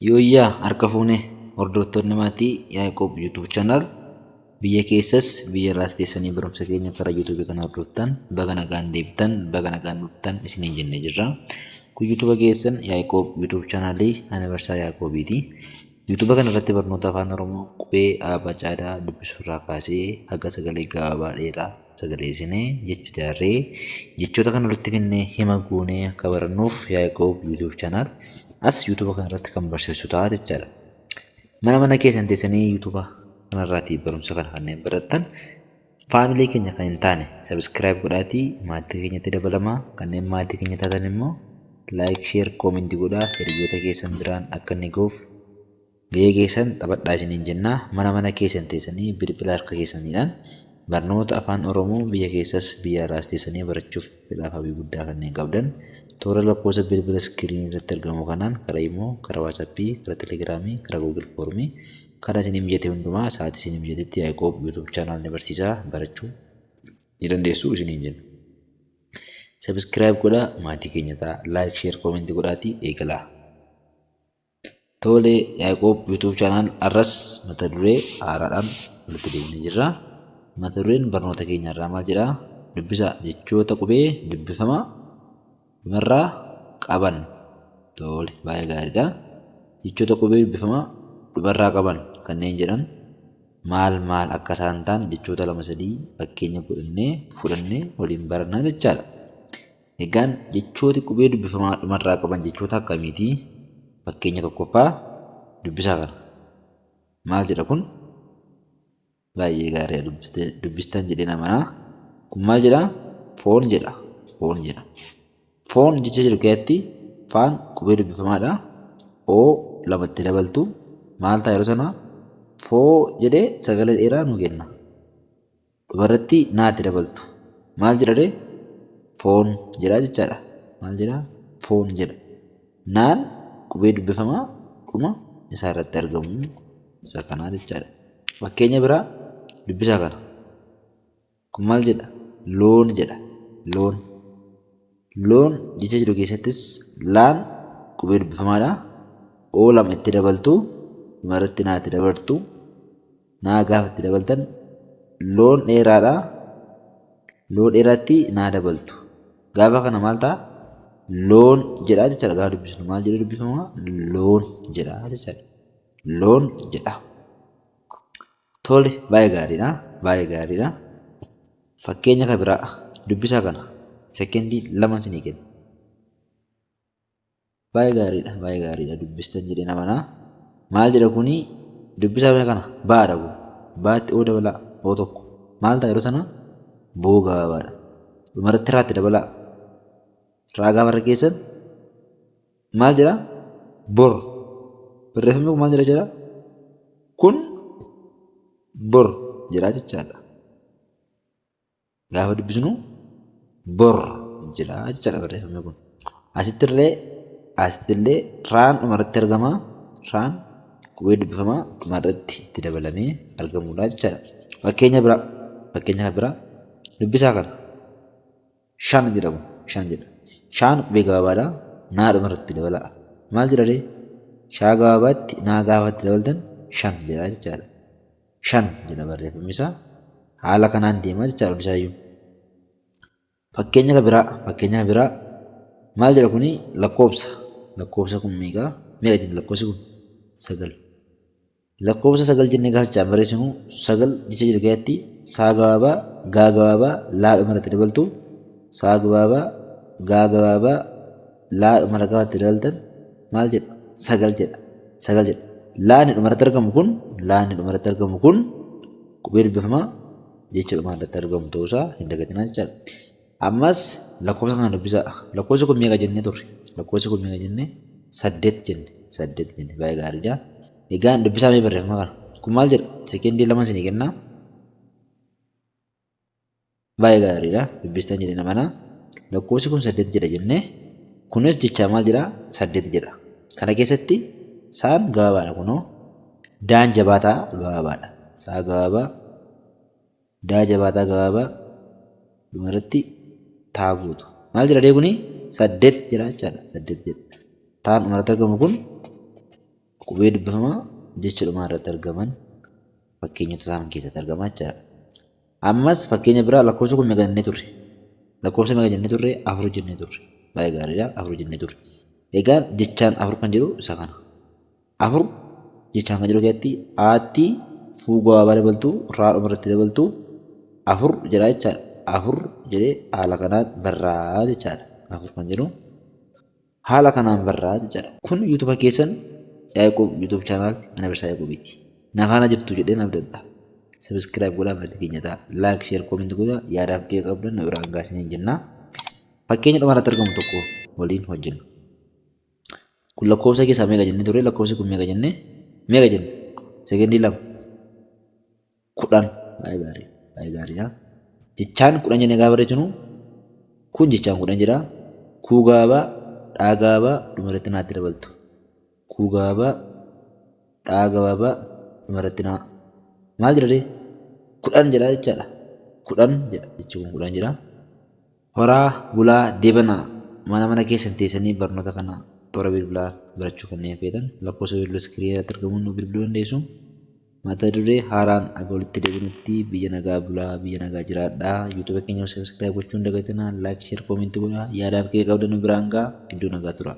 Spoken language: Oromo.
Yooyyaa harka fuune hordoftoonni maatii Yaaqoob YouTube channel biyya keessas biyya irraas teessanii barumsa keenya karaa YouTube kana hordoftan baga nagaan deebitan baga nagaan dhuftan isiniin jennee jirra. Kun YouTube keessan Yaaqoob YouTube channel ani barsaa Yaaqoobiiti. YouTube kana irratti barnoota afaan Oromoo qubee A, B, C, D dubbisuu irraa kaasee haga sagalee gabaabaa dheeraa sagalee isinee, jecha jaarree, jechoota kan walitti finnee hima goonee akka barannuuf Yaaqoob YouTube channel as YouTube kana irratti kan barsiisu ta'a jechaadha. Mana mana keessan teessanii YouTube kana irraatii barumsa kana kanneen barattan faamilee keenya kan hin taane subscribe godhaatii maatii keenyatti dabalamaa kanneen maatii keenya taatan immoo like share comment godhaa hiriyoota keessan biraan akka inni gahuuf Gahee keessan taphadhaa isiniin jenna. Mana mana keessan teessanii bilbila harka keessaniidhaan barnoota Afaan Oromoo biyya keessas biyya alaas teessanii barachuuf fedhaaf hawwii guddaa kanneen qabdan toora lakkoofsa bilbila iskiriinii irratti argamu kanaan karaa Imo, karaa WhatsApp, karaa Telegram, karaa Google Form karaa isinii mijate hundumaa sa'aatii isinii mijatetti Yaiqoob YouTube Channel ni barsiisa barachuu ni dandeessu isiniin jenna. Subscribe godhaa, maatii keenya ta'aa, like, share, comment godhaatii eegalaa. Tole Yaiqoob YouTube channel har'as mata duree haaraadhaan walitti deebinee jirra. Mata dureen barnoota keenya irraa maal jedha? Dubbisa jechoota qubee dubbifama marraa qaban. Tole baay'ee gaariidha. Jechoota qubee dubbifama dhumarraa qaban kanneen jedhan maal maal akka isaan ta'an jechoota lama sadii fakkeenya godhannee fudhannee waliin barannaa jechaadha. Egaan jechooti qubee dubbifamaa dhumarraa qaban jechoota akkamiiti? Fakkeenya tokkoffaa dubbisaa kana. Maal jedha kun? Baay'ee gaariidha dubbiste dubbistan jedheen amana. Kun maal jedha? Foon jedha. Foon jedha. Foon jecha jedhu keessatti faan qubee dubbifamaadha. Oo lama itti dabaltu maal ta'a yeroo sana? Foo jedhee sagalee dheeraa nuu kenna. Dhumarratti naa itti dabaltu. Maal jedha ree? Foon jedha jechaadha. Maal jedha? Foon jedha. Naan qubee dubbifamaa dhuma isaa irratti argamu isa kanaa jechaadha. Fakkeenya biraa dubbisaa kana. Kun maal jedha? Loon jedha. Loon. Loon jecha jedhu keessattis laan qubee dubbifamaadha. O lama itti dabaltu. Dhumarratti naa itti dabartu. naa gaafa itti dabaltan loon dheeraadha loo dheeratti naa dabaltu gaafa kana maal ta'a loon jedhaa jechaadha gaafa dubbisnu maal jedhee dubbifama loon jedhaa jechaadha loon jedha tole baay'ee gaariidha baay'ee gaariidha fakkeenya ka biraa dubbisaa kana sekendii lama sinii kenna Baay'ee gaariidha baay'ee gaariidha dubbistan jedheen amana. Maal jedha kuni dubbisaa mee kana ba'aadha kun ba'atti oo dabalaa oo tokko maal ta'a yeroo sana boo gabaabaadha dhumarratti raatti dabalaa raa gaafa irra geessan maal jedha bor barreeffamni kun maal jedha jedha kun bor jedhaa jechaadha. gaafa dubbisnu bor jedha jechaadha barreeffamni kun. Asittillee asittillee raan dhumarratti argama. Raan qubee dubbifamaa dhumarratti itti dabalamee argamudha jechaadha. Fakkeenya biraa fakkeenya kan biraa dubbisaa kana. Shan jedha kun shan jedha. Shaan qubee gabaabaadha. Naa dhumarratti dabalaa. Maal jedharee? Shaa gabaabaatti naa gaafa itti dabaltan shan jedha jechaadha. 5 jedha barreeffamisaa. Haala kanaan deemaa jechaadha hundisaayyuu. Fakkeenya ka biraa fakkeenya ka biraa maal jedha kuni lakkoobsa lakkoobsa kun meeqa meeqa jenna lakkoobsi kun 9 lakkoobsa 9 jennee gaafa jechaan barreessinu 9 jecha jiru keessatti saa gabaabaa gaa gabaabaa laa dhuma irratti dabaltu saa gabaabaa gaa gabaabaa laa dhumarratti itti dabaltan maal jedha? sagal jedha. sagal jedha. laa inni dhumarratti argamu kun laa inni dhumarratti argamu kun qubee dubbifamaa jecha dhumaarratti argamu ta'uusaa hin dagatinaa jechaadha. Ammas lakkoofsa kana dubbisaa. Lakkoofsi kun meeqa jennee turre? Lakkoofsi kun meeqa jenne? saddeet jenne. saddeet jenne. Baay'ee gaariidha. Egaan dubbisaa mee barreeffama kana. Kun maal jedha? Sekendii lama isinii kennaa. Baay'ee gaariidha. Dubbistan jedheen amana. Lakkoofsi kun saddeet jedha jenne. Kunis jechaa maal jedha? Saddeet jedha. Kana keessatti saan gabaabaadha kunoo. Daan jabaataa gabaabaadha. Saa gabaabaa. Daa jabaataa gabaabaa. Dhuma irratti taa guutu. Maal jedha dee kuni? Saddeet jedha jechaadha. Saddeet jedha. Taan dhuma irratti argamu kun Qubee dubbifamaa jecha dhumaa irratti argaman fakkeenyota isaa kan keessatti argamaa jechaadha. Ammas fakkeenya biraa lakkoofsa kun meeqa jennee turre? Lakkoofsa meeqa jennee turre? Afur jennee turre. Baay'ee gaariidha. Afur jennee turre. Egaan jechaan afur kan jedhu isa kana. Afur jechaan kan jedhu keessatti aatti fuu gabaabaa dabaltu raa dhuma irratti dabaltu afur jedhaa jechaadha. Afur jedhee haala kanaan barraa jechaadha. Afur kan jedhu. Haala kanaan barraa jechadha. Kun YouTube keessan Yaqub YouTube channel Anniversary Yaqubiiti. Na faana jirtu jedheen abdadha. Subscribe godhaa maatii keenya ta'a. Like, share, comment godhaa yaadaa fi qeeqa qabdan nu biraan gahaa isiniin jenna. Fakkeenya dhuma irratti argamu tokko waliin hojjenna. Kun lakkoofsa keessaa meeqa jennee turre? Lakkoofsi kun meeqa jennee? Meeqa jenne? Sekondii lama. kudhan. Baay'ee gaarii dha. Baay'ee gaarii dha. Jechaan kudhan jennee gaafa barreessinu kun jechaan kudhan jedha. Kuu gaaba, dhaa gaaba dhuma irratti naatti dabaltu. Kuu gaaba, dhaa gabaaba dhuma irratti naa. Maal jedha ree? Kudhan jedha jechaadha. Kudhan jedha jechi kun kudhan jedha. Horaa bulaa debanaa mana mana keessan teessanii barnoota kana toora bilbilaa barachuu kanneen feetan lakkoofsa bilbila screen irratti argamuun nu bilbiluu dandeessu. Mata duree haaraan aga walitti debinutti biyya nagaa bulaa biyya nagaa jiraadhaa youtube keenya subscribe gochuu hin dagatinaa like share comment godhaa yaadaaf qeeqa qabdan nu biraan gahaa iddoo nagaa turaa.